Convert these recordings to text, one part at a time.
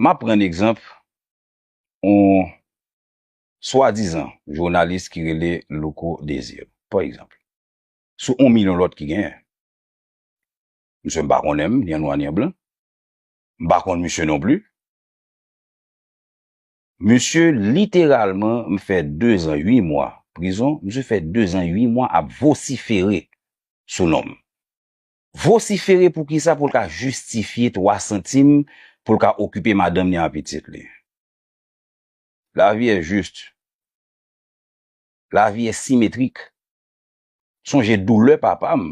M ap pran egzanp yon swadizan jounalis ki rele Louko Desir, pa egzanp, sou yon milyon lòt ki genyen. Msye m pa konnen m, ni an nwa ni an blan. M pa konn msye non pli. Msye literalman m fè dezan ui mwa prizon, msye fè dezan ui mwa ap vosifere sou non m. Vosifere pou kisa pou l ka jistifye 3 santim pou l ka okipe madanm li an pitit li. La vi è jist. La vi è simetrik. Sonje doulè papa m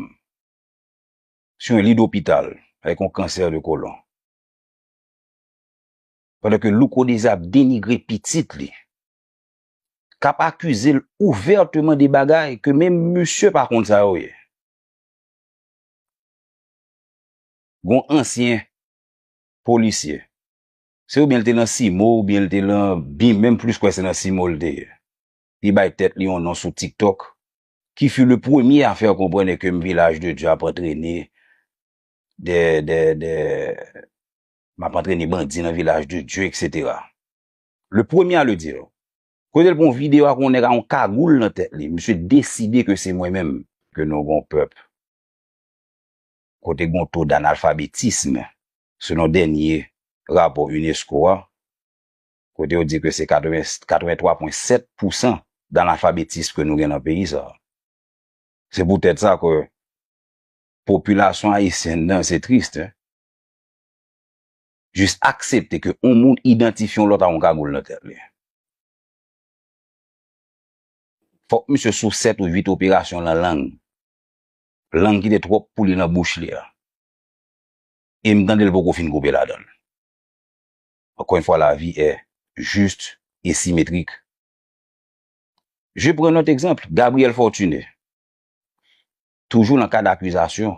sou yon li dopital avèk yon kansè de kolon. Pandan ke Louko Désir ap denigre pitit li, k ap akize l ouvèteman de bagay ke menm misye pa konn sa yo ye. Gon ansyen polisye. Se oubyen li te nan CIMO oubyen li te lan bim menm plis kwè se nan CIMO li te ye. Li bay tèt li yon non sou tiktok ki fut le premier à faire comprendre que Village de Dieu ap antrene de de de map antrene bandi nan Village de Dieu etc. Le premier à le dire. Kote l pran video ak yon nèg ak yon kagoul nan tèt li, misye deside ke se mwen menm. Ke nou gon pèp kote gon to d'analfabetism selon dènye rapò unesco a, kote yo di ke se 83.7 pousan d'analfabetism ke nou gen nan peyi sa. Se pou tèt sa ke popilasyon ayisyèn nan se triste. jis aksepte ke yon moun idantifye yon lòt ak yon kagoul nan tèt li. Fòk misye sou 7 ou 8 operasyon lan lang. Lang kite twòp pou li lan bouch li a. E m tande l poko fin koupe ladan l. Ankò yon fwa lavi è jis e simetrik. Je pran lòt egzanp, Gabriel Fortuné. Toujou lan kad akizasyon.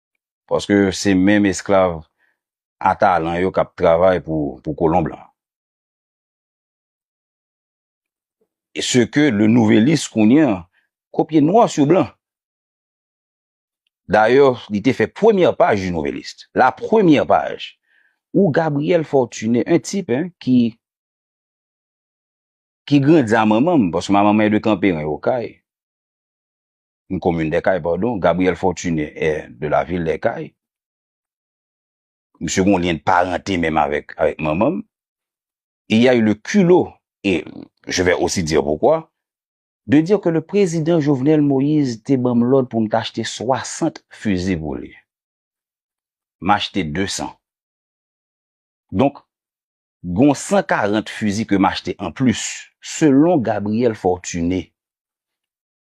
Paske se menm esklav a talan yo k ap travay pou kolon blan. E se ke Le Nouvelliste kounye an kopye nwa sou blan. Dayè, li te fè premyè paj Le Nouvelliste. La premyè paj. Ou Gabriel Fortuné, un type ki ki grandi a manman m, paske manman m est de Camp-Perrin, Okay. M. Komin Dè Kay, padon, Gabriel Fortuné est de la ville Dè Kay. Misye gon lyen de parente menm avèk manman m. Il y a eu le culot, et je vais aussi dire pourquoi, de dire que le Président Jovenel Moïse te ban m lòd pou m t achte 60 fusil pou li. M achte 200. Donk, gon 140 fusil ke m achte anplis, selon Gabriel Fortuné.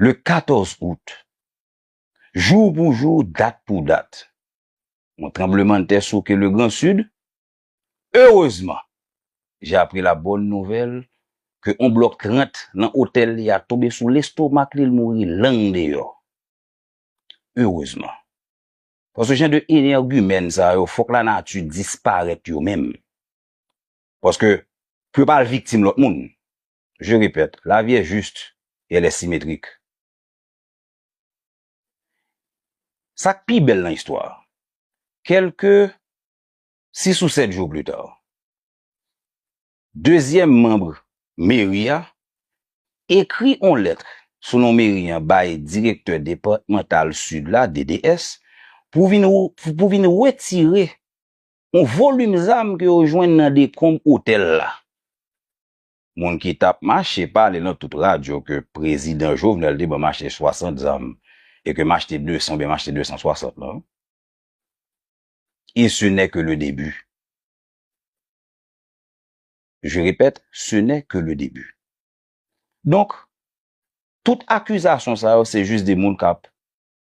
le 14 out, jou pou jou, dat pou dat, yon tranblemanntè souke le Gran Sid. Erezman, jè apri la bòn nouvèl ke yon blòk 30 lan otèl li a tonbe sou lestomak li, l mouri lang deyò. Erezman. Paske jan de enègimèn sa yo fòk lanati disparèt yo menm. Paske pou yo pa al viktim lòt moun. Je répète, la vie est juste et elle est symétrique. Sa k pi bèl nan istwa a, kèlke sis ou sèt jou plita, dezyèm manb meri a ekri on lèt sou non meri an bay direktè depatmantal Sid la, DDS, pou vin pou vin wetire on volim zam ke yo jwenn nan dekonb otèl la. Moun ki tap mache pale nan tout radyo ke prezidan Jovenel te ban machte 60 zam e ke machte 200 oubyen machte 260 lan, e se nè ke le debi. Je repèt, se nè ke le debi. Donk, tout akizasyon sa yo se jis de moun kap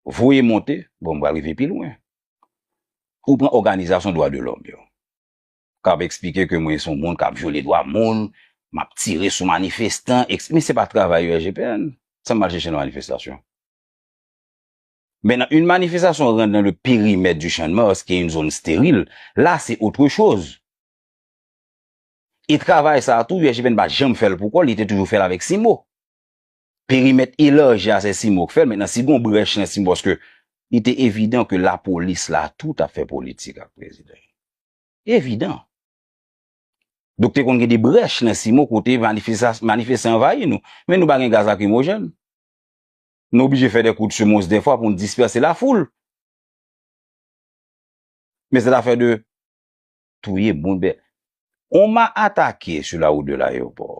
voye monte, bon m pral rive pi lwen. Ou pran òganizasyon dwa de lòm yo. k ap eksplike ke mwen se yon moun k ap vyole dwa moun, m ap tire sou manifestan, ekse. Men se pa travay ULGPN. Sa m al chèche nan manifestasyon? Maintenant, une manifestation rentre dans le périmètre du Champ-de-Mars, ki e yon zòn sterile, la se autre chose. E travay sa a tou, ULGPN pa janm fè l pou kò l, li te toujou fè l avèk CIMO. perimèt elaji a se Simon k fèl mentnan si gon brèch nan Simon paske li te evidan ke lapolis la tou tap fè politik ak prezidan evidan donk te konn gen de brèch nan Simon kote manifestan anvayi nou men nou pa gen gaz lakrimojèn nou oblije fè de kout semons defwa poun dispèse lafoul men se zafè de touye moun on ma atake sou la wout de layopò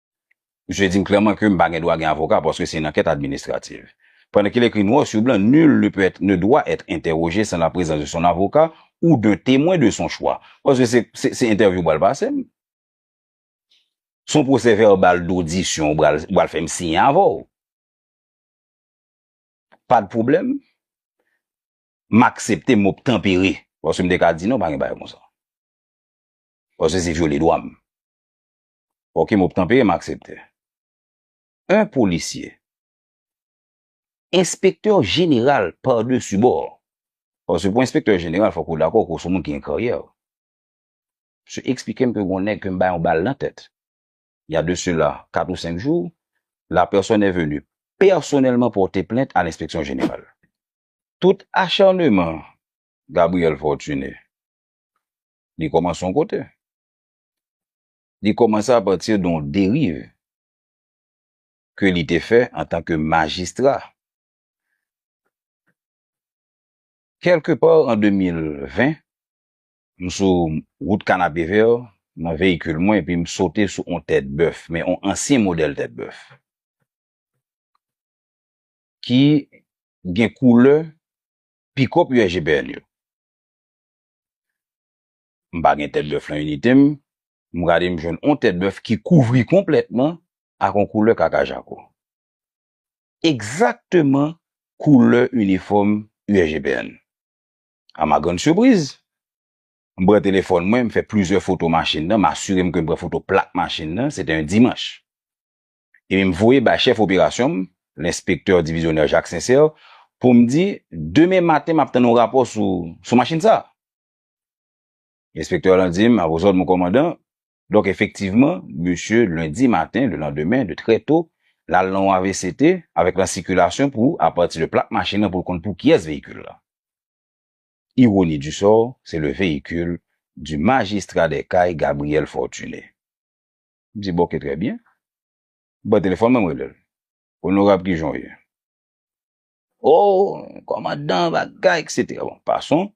Misye di m klèman ke m pa gen dwa gen avoka paske se yon ankèt administrativ. Pandan ke l ekri nwa sou blan nul ne peut être, ne doit être interrogé sans la présence de son avocat ou d'un témoin de son choix. Paske se, se entèvyou ou pral pase m. Se yon pwosè vèbal dodisyon ou pral, ou pral fè m siyen avè w. Pa de pwoblèm. M aksepte, m obtanpere. Paske m te ka di non, pa gen bagay konsa. Paske se vyole dwa m. Ok mop tanpeye m aksepte. Un policier. Enspektè jeneral par dessus bord. Paske pou enspektè jeneral fok ou dakò ke w son moun ki gen karyè. Misye eksplike m ke gon nèg ke m bay yon bal nan tèt. Il y a de cela 4 ou 5 jours, la personne est venue personnellement porter plainte à l'inspection générale. Tout acharnement Gabriel Fortuné li komanse yon kote. Li kòmanse a pati de yon deriv ke li te fè an tan ke majistra. Kèlke pa an 2020, m sou wout Kanapevè nan veyikil mwen epi m sote sou yon tèt bèf, men yon ansyen modèl tèt bèf ki gen koulè pikòp USGPN yo. M pa gen tèt bèf nan inite m. M gade m jwenn on tèt bèf ki kouvri konplètman ak on koulè kaka jako. Egzakteman koulè inifòm USGPN. A ma grande surprise, m pran telefòn mwen, m fè plizyè foto machin nan, m asire m ke m pran foto plak machin nan, se te yon dimanch. Epi m voye bay chèf operasyon m, lenspektè divizyonè Jacques Sincère, pou m di, demen maten m ap tann on rapò sou machin sa a. Enspektè lan di m, A vos òd, mon kòmandan. Donk, efektivman, misye, lendi maten, le landemen, de trè to, l al nan yon avct, avèk lan sikilasyon pou, apati de plak machin lan pou l konn pou kiyès veyikil la. Ironi du sort, se le veyikil du magistrat des Cayes, Gabriel Fortuné. M di, Bon, ke trè byen. M pran telefòn mwen, m rele l, Onorab, kijan w ye? Oh kòmandan bagay etc. Bon pason,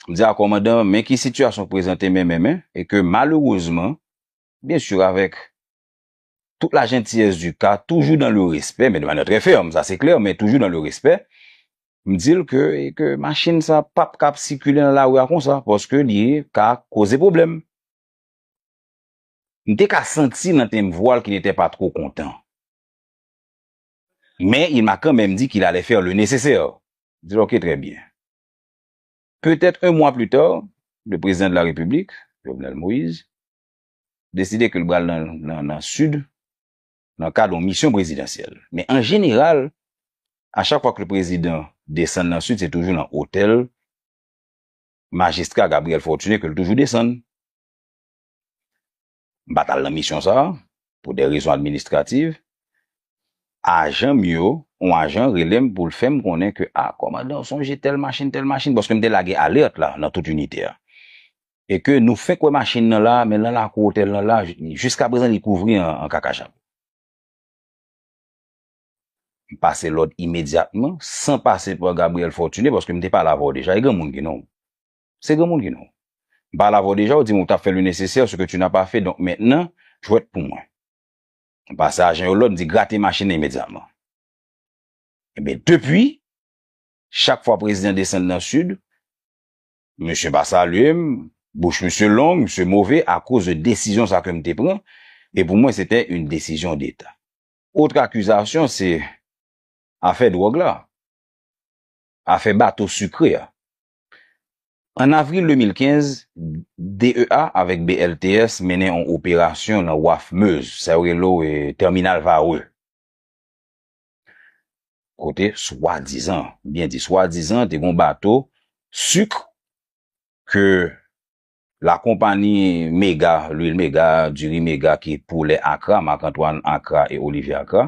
m di a kòmandan men ki sitiyasyon k prezante men men men e ke malerezman byen sur avèk tout la jentiyès di ka toujou dan le respè men de manyè trè fèm sa se klè men toujou dan le respè m di l ke e ke machin sa pap ka ap sikile nan lari a konsa paske li ka koze pwoblèm. M te ka santi nan tenb vwa l ki n'était pas trop content. Men il m'a quand même dit qu'il allait faire le nécessaire. M di l ok très bien. Peut-être un mois plus tard, le Président de la République, Jovenel Moïse, deside ke l bral nan Sud nan kad yon mission prezidansyèl. Men an jeneral, a chak fwa ke le Prezidan desann nan Sud se toujou nan hôtel Majistra Gabriel Fortuné ke l toujou desann. M pa t al nan misyon sa a pou de rezon administrativ. Ajan m yo, yon ajan rele m pou l fè m konnen ke, a, kòmandan, sonje tèl machin, tèl machin, paske m te lage alèt la nan tout inite a, e ke nou fenk wè machin nan la, men nan lakou otèl nan la, jiskaprezan li kouvri an kakachat. M pase lòd imedyatman, san pase pa Gabriel Fortuné, paske m te pale avè w deja, e granmoun ki non w? Se granmoun ki nou. M pale avè w deja, ou di m ou t ap fè le nesesè, ce que tu n'as pas fait, donk mentnan, jwèt pou mwen. M pase ajan yo lòd, m di grate machin nan imedyatman. Enben, depi, chak fwa prezidan desann nan Sid, misye pa salye m, bouch misye long, misye move akoz de desizyon sa ke m te pran, e pou mwen se te yon desizyon deta. Otre akizasyon se afè dwòg la, afè bato sikre a. An avril 2015, DEA avèk BLTS mennen yon operasyon nan waf Meuse, sa yo relo Terminal Varreux, kote swadizan, m byen di swadizan, te gen yon bato suk ke lakonpani Mega, Lwil Mega, Diri Mega ki pou lè Akra, Marc Antoine Akra e Olivier Akra,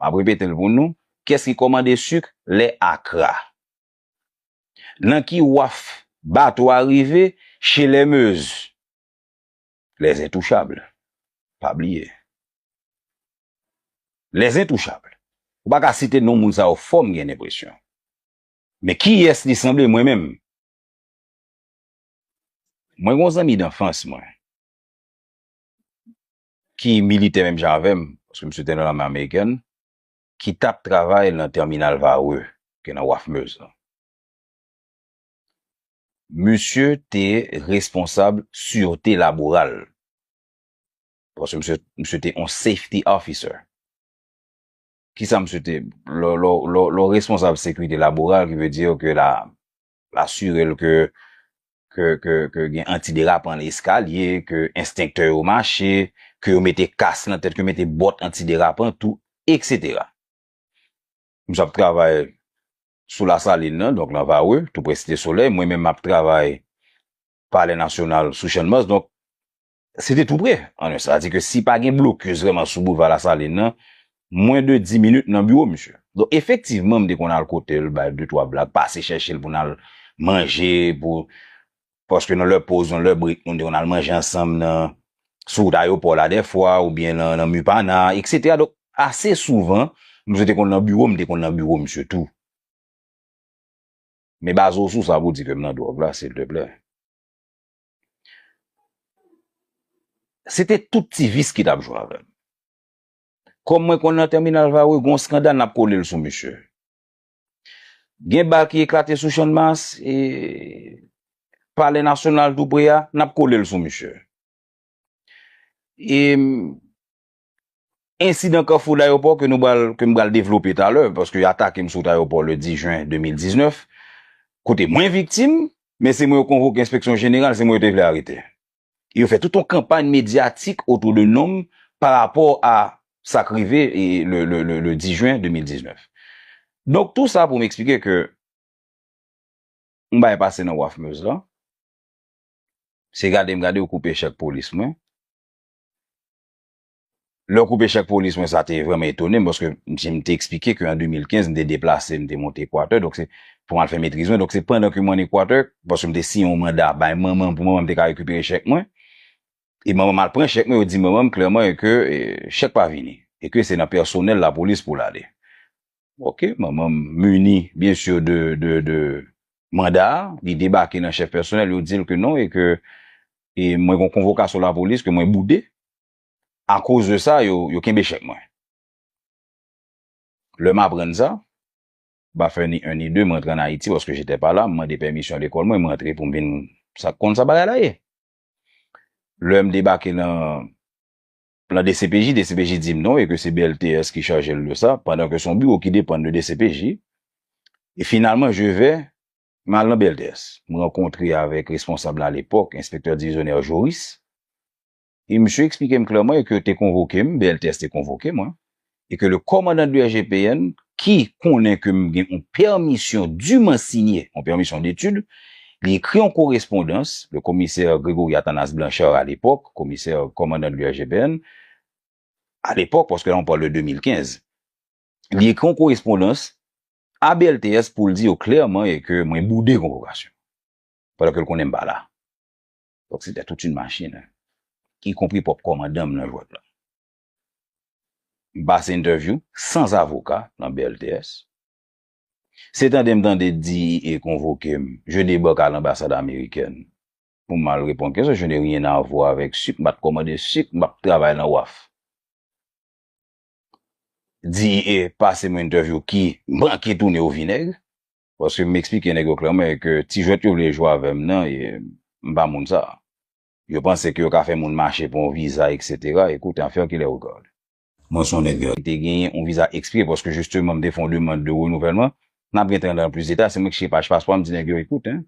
M ap repete l pou nou, Kiyès ki kòmande suk lè akra? Nan ki waf bato a rive? Chez les Meuse. Les Intouchables. Pa bliye. Les Intouchables. Ou pa ka site non moun sa yo fò m gen lenpresyon. Men kiyès li sanble mwen menm? Mwen gen yon zanmi danfans mwen. ki militè menm jan avè m, paske misye te nan lame amerikèn, ki t ap travay nan tèminal Varreux, ki gen nan waf Meuse lan. Misye te responsab sirte laboral, paske misye, misye te yon safety officer. Kisa misye te, lè w, lè w, lè w responsab sekirite laboral, ki vle di yo ke la, asire l ke ke gen antiderapan nan eskalye, ke enstenktè yo mache, ke yo mete kas nan tèt, ke yo mete bòt antiderapan tou, eksetera. Misye ap travay sou Lasalin nan, donk nan Varreux, tou prè Site Solèy, mwen menm m ap travay Palè Nasyonal sou Channmas, donk Se te tou pre. An nou sa di ke si pa gen blokis vreman sou boulva Lasalin nan, mwen de 10 minit nan biwo misye. Donk efektivman m te konn al kote l bay de twa blag, pase chèche l pou n al manje, pou, paske nan lè poz, nan lè brek nou te konn al manje ansanm nan, sou wout ayopò la dè fwa ou byen nan, nan Mupana, eksetera. Donk ase souvan misye te konn nan biwo, m te konn nan biwo misye tou. Men baze w sou sa pou w di ke m nan dwòg la silteplè? Se te tout ti vis ki tap jwe avèm. Kòm mwen konn nan tèminal Varreux gon skandal nap kole l sou misye. Gen bal ki eklate sou Channmas e Palè Nasyonal tou pre a, nap kole l sou misye. E Ensidan Kafou Dayopò ke nou pral, ke m pral devlope talè, paske yo atake m sou wout Ayopò le 10 jen 2019, kote mwen viktim, men se mwen yo konvoke enspeksyon jeneral, se mwen yo te vle arete. E yo fè tout yon kanpay medyatik otou de non m pa rapò a sa k rive le 10 jen 2019. Donk tou sa pou m eksplike ke yon bagay pase nan waf Meuse la, se gade m gade yo koupe chèk polis mwen, Lè w koupe chèk polis mwen sa te vrèman etone m paske m si m te eksplike ke an 2015 m te deplase m te monte Equateur donk se pou m al fè metriz mwen donk se pandan ke m an Equateur paske m te siyen yon manda bay manman m pou manman m te ka rekipere chèk mwen e manman m al pran chèk mwen yo di manman m klèman e ke chèk pa vini e ke se nan pèsonèl lapolis pou l ale. Ok, manman m muni bien sûr de de de manda a, li debake nan chèf pèsonèl, yo di l ke non e ke e mwen gon konvokasyon lapolis ke mwen boude, akoz de sa yo yo kenbe chèk mwen. Lè m aprann sa, m pa fè ni 1 ni 2, m rantre an Ayiti paske j'étais pas là, m mande pèmisyon lekòl mwen, m rantre pou m vin sa k konn sa bagay la ye. Lè m debake nan Plan dcpj, dcpj di m non e ke se BLTS ki chaje l de sa, pandan ke se yon biwo ki depann de dcpj. E finalman je vè, m al nan BLTS. M rankontre avèk responsab la alepòk, enspektè divizyonè Joris. E misye eksplike m klèman e ke yo te konvoke m, BLTS te konvoke mwen, e ke le kòmandan de IGPN, ki konnen ke m gen on pèmisyon diman sinye, on pèmisyon detid, li ekri on korespondans, le Commissaire Grégory Athanas Blanchard à l'époque, Commissaire, Kòmandan de IGPN, à l'époque, paske la on parle de 2015, li ekri on korespondans a BLTS pou l di yo klèman e ke mwen boude konvokasyon, pandan ke l konnen m pa la. Donk se tè tout yn machin, y konpri pwòp kòmandan m nan jwèt la. M pase entèvyou sans avoka nan BLTS. Se tande m tande DEA konvoke m, je debake a l'ambassade américaine pou m al reponn kesyon, je n'ai rien à voir avec sucre, m pa t kòmande suk, m pa p travay nan waf. DEA pase m yon entèvyou ki manke tounen au vinaigre, paske m eksplike nèg yo klèman e ke ti jwèt yo vle jwe avè m nan, m pa moun sa. Yo panse ke yo ka fè moun mache pou yon viza etc. Écoute en faire qu'il est regarde. Mwen son nèg ki te genyen yon viza expire paske justement m te fè yon demande de renouvellement. Nap gen tan antre nan plus deta. Se mwen ki cheke paj paspò a m di nèg yo écoute hein.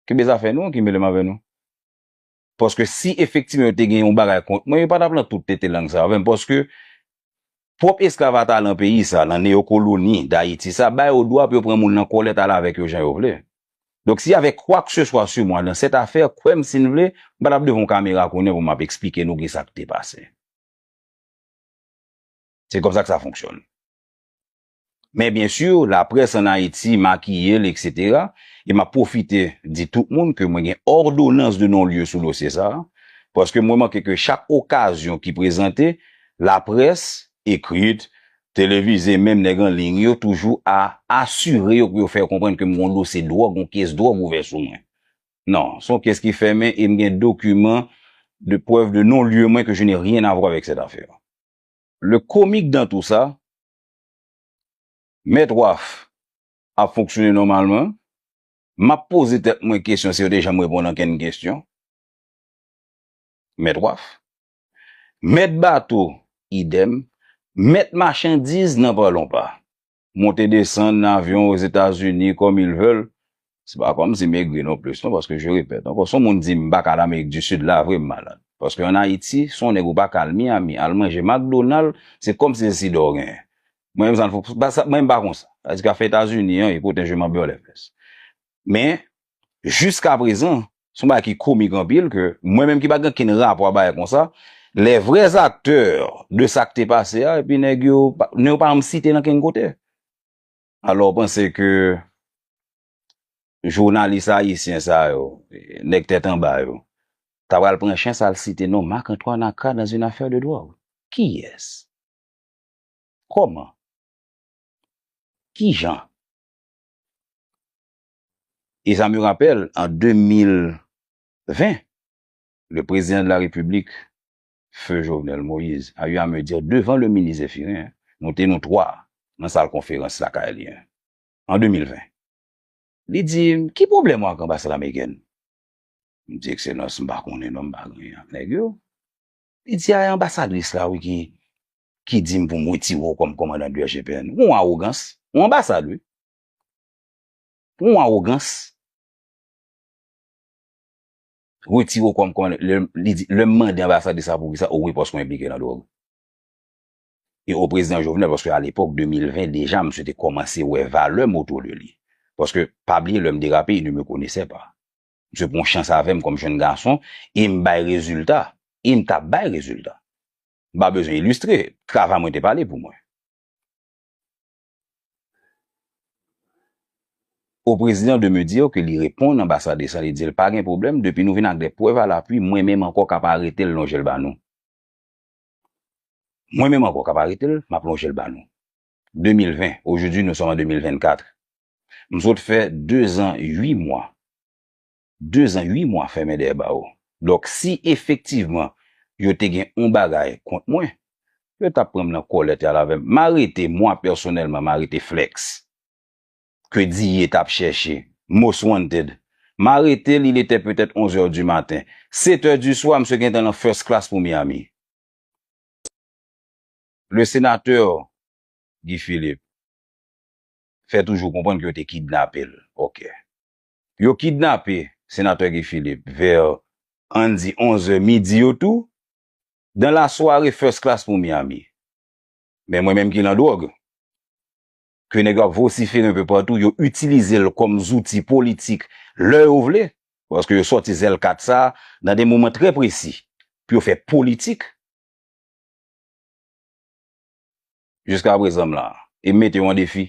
Kenbe zafè nou an ki mele m avè nou. Paske si efektivman yo te gen yon bagay kont mwen yo pa tap lan tout tete lang sa avè m paske Pwòp esklav a ta lan peyi sa, lan neyokoloni Dayiti sa, ba yo dwa pou yo pran moun lan kòlèt al avèk yo jan yo vle. Donk si y avè kwakseswa su mwa lan sèt afè, kwè m si n vle, m pa t ap devan w kamera kounye pou m ap esplike nou ki sa k te pase. Se kòm sa k sa fonksyone. Men byen sur, la près an Ayiti makiye l eksetera, e m ap pwofite di tout moun ke mwen gen òdonans de non lye sou dosye sa a, paske m remake ke chak okazyon ki prezante, la près, ekrit, televize, menm nèg an liy yo toujou a asire yo pou yo fè yo konprann ke m gon dosye dwòg, gon kes dwòg ouvè sou mwen. Non, s on kes ki fèmen e m gen dokiman de prèv de non lye mwen ke je n'ai rien à voir avec cette affaire. Le comique dans tout ça, Mèt Waf ap fonksyone nòmalman. M ap poze tèt mwen kesyon si yo te janm reponn ankenn kesyon. Mèt Waf. Mèt Bato, idèm. Mèt Machandiz, nan pa lon pa. Monte desann avyon Ozetazini kòm il vèl, Se pa kòm si m egri non plis non paske je repèt ankò si yon moun di m pa ka al amerik di sid la vre m malad paske an ayiti si yon nèg ou pa ka al miami al manje makdonal se kòm si se sida w genyen mwen menm sa m mwen menm m pa konsa sa di ka fè etazini an eko tè je man bèlè pès men jiska prezan se yon bagay ki komik anpil ke mwen menm ki pa gen okenn rapò a bagay konsa lè vrè zaktè de sa k te pase a epi nèg yo nou yo pa janm site nan kenn kote. Alò ou panse ke jounalis ayisyen sa yo, nèg tèt anba yo, ta pral pran chans al site non Marc Antoine Accra dans une affaire de drogue? Kiyès? Kòman? Kijan? E sa me rapèl an 2020, le prezidan de la Repiblik, Feu Jovenel Moïse a eu à me dire devan le minis Zephyrin, nou te nou 3 nan sal konferans lakay li an 2020, li di m ki pwoblèm ou ak anbasad amerikèn? M di ekselans m pa konnen non m pa gen lyen ak nèg yo. Li di a e anbasadris la wi ki ki di m pou m wetire w kòm kòmandan de GPN. Ou gen yon awogans, yon anbasad wi. Pou yon awogans. Retire w kòm kòmandè. Li di, lè m mande anbasad de sa pou ki sa, o wi paske w enplike nan dwòg. E o prezidan Jovenel paske a lepòk 2020 deja msye te kòmanse wè valè m otou de li. Paske pa bliye lè m derape il ne me connaissait pas. Msye pran chans avè m kòm jenn gason e m bay rezilta. E m t ap bay rezilta. M pa bezwen ilistre. Travay mwen te pale pou mwen. Au président de me dire que li reponn anbasade sa li dil pa gen pwoblèm depi nou vin ak des preuves à l'appui mwen menm ankò kap aretel lonjel ba nou mwen menm ankò kap aretel map lonjel ba nou 2020 aujourd'hui nous sommes en 2024 m sot fè 2 ans 8 mois 2 zan 8 mwa fèmen dèyè bawo. Donk si efektivman yo te gen yon bagay kont mwen, yo t ap pran m nan kòlèt y al avè m. M arete, mwa pèsonèlman, m arete Flex, ke Diye t ap chèche, Most Wanted. M arete l, il était peut-être 11 heures du matin. 7 heures du soir, msye gentan nan first class pou Miami. Le Sénateur Guy Philippe fè toujou konprann ke yo te kidnape l. Ok. Yo kidnape Senatè Guy Philippe vers ann di 11 è midi yo tou dans la soirée first class pour Miami. Men mwen menm ki lan dwòg, ke nèg yo ap vociferer un peu partout, yo utilize l kòm zouti politik lè yo vle, paske yo sòti zèl kat sa nan de moman trè presi pou yo fè politik. Jiska prezan m la, e m mete yo an defi.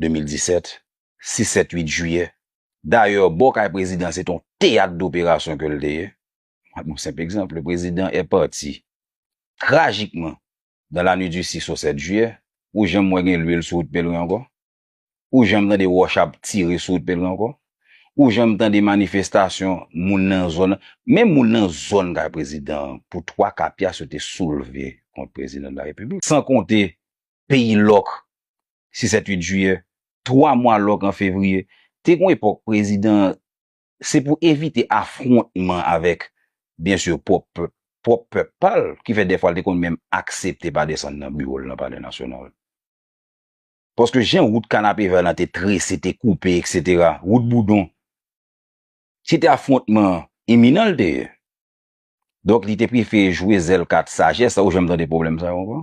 2017, 6 7 8 jiyè. Dayè, bò kay prezidan se te yon teyat doperasyon ke l te ye. Mwen pran yon senp egzanp, le prezidan è pati trajikman dan la nwit di 6 o 7 jiyè. Ou janm wè gen lwil sou wout Pelren ankò? Ou janm tande wòch ap tire sou wout Pelren ankò? Ou janm tande manifestasyon moun nan zòn nan? Menm moun nan zòn kay prezidan an, pou twa ka pyas yo te soulve kont prezidan de la Repiblik. San konte peyi lòk si 7 8 jiyè, 3 mwa lòk an fevriye, te gon epòk prezidan an se pou evite afwontman avèk byen sur pwòp pèp pwòp pèp pa l ki fè dèfwa l te konn menm aksepte pa desann nan biwo l nan palè nasyonal. Paske jan wout kanapevè lan te trese, te koupe eksetera, wout boudon, se te afwontman iminan l te ye. Donk li te prefere jwe zèl kat sajès la, ou janm tande pwoblèm sa yo ankò?